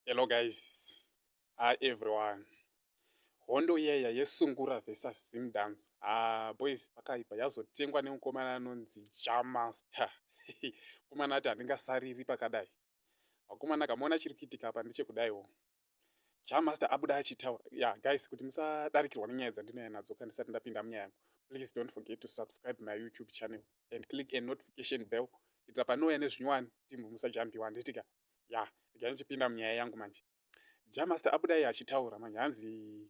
Hello guys. Hi everyone. Hondo iya yesungura versus Zim Dance. Ah boys pakaipa yazotengwa nemukomana anonzi Jamaster. Komana ati handingasariri pakadai. Vakomana kamuona chiri kuitika apa ndechekudaiwo. jamaster abuda achitaura ya yeah, guys kuti musadarikirwa nenyaya dzandinaya nadzo ka ndisati ndapinda munyaya yangu please don't forget to subscribe my youtube channel and click a notification bell kuitira panouya nezvinyowani timbo musajambiwa handitika ya yeah, ikai ndichipinda munyaya yangu manje jamaster abuda iye achitaura manje hanzi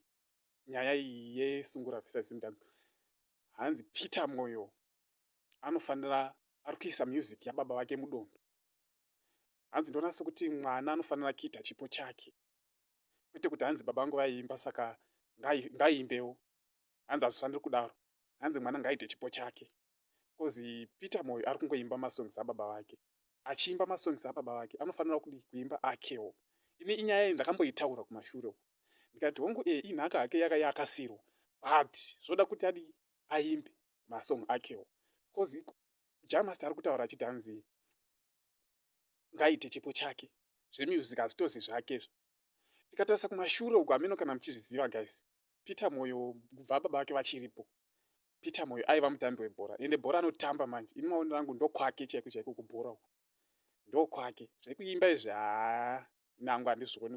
nyaya iyi yesungura vesazimudanzo hanzi peter moyo anofanira ari kuisa music yababa vake mudondo hanzi ndoona sokuti mwana anofanira kuita chipo chake kwete kuti hanzi baba vangu vaiimba saka ngaiimbewo hanzi hazvifaniri kudaro hanzi mwana ngaaite chipo chake bcause peter moyo ari kungoimba masongs ababa vake achiimba masongs ababa vake anofanira kudi kuimba akewo ini inyaya iyi ndakamboitaura kumashure uku ndikati hongu e inhaka hake yaka yakasirwa but zvoda kuti adi aimbe masong akewo bcause jamaster ari kutaura achiti hanzi ngaite chipo chake zvemusic hazvitozi zvake zvo tikatarisa kumashure uko hameno kana muchizviziva guys peter moyo kubva baba vake vachiripo peter moyo aiva mutambi webhora ende bhora anotamba manje ini maoni rangu ndokwake chaiko chaiko kubhora uko ndokwake zvekuimba izvi haa nangu handizvioni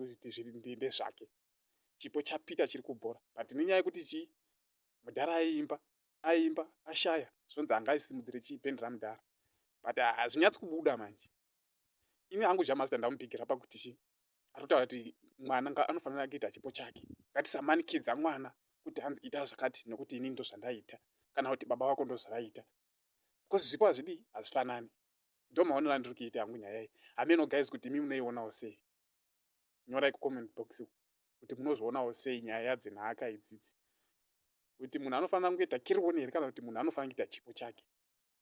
kuti ndezvake chipo chapeter chiri kubhora but nenyaya yekuti chii mudhara aiimba aiimba ashaya zvonzi anga aisimudzire chii band ramudhara but hazvinyatsi kubuda manje ini hangu jamasta ndamupigira pakuti chii atotaura kuti mwana nga anofanira kuita chipo chake ngatisamanikidzwa mwana kuti hanzi ita zvakati nokuti ini ndozvandaita kana kuti baba vako ndozvavaita because zvipo hazvidii hazvifanani ndomaonero andiri kuita hangu nyaya iyi hameno guys kuti imi munoionawo sei nyorai kucomment box kuti munozvionawo sei nyaya yadzenhaka idzidzi kuti munhu anofanira kungoita kirione here kana kuti munhu anofanira kuita chipo chake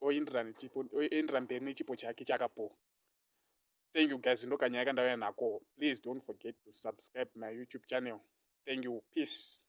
oendera mberi nechipo chake chakapowa thank you guys ndokanyaya kandauya nako please don't forget to subscribe my youtube channel thank you peace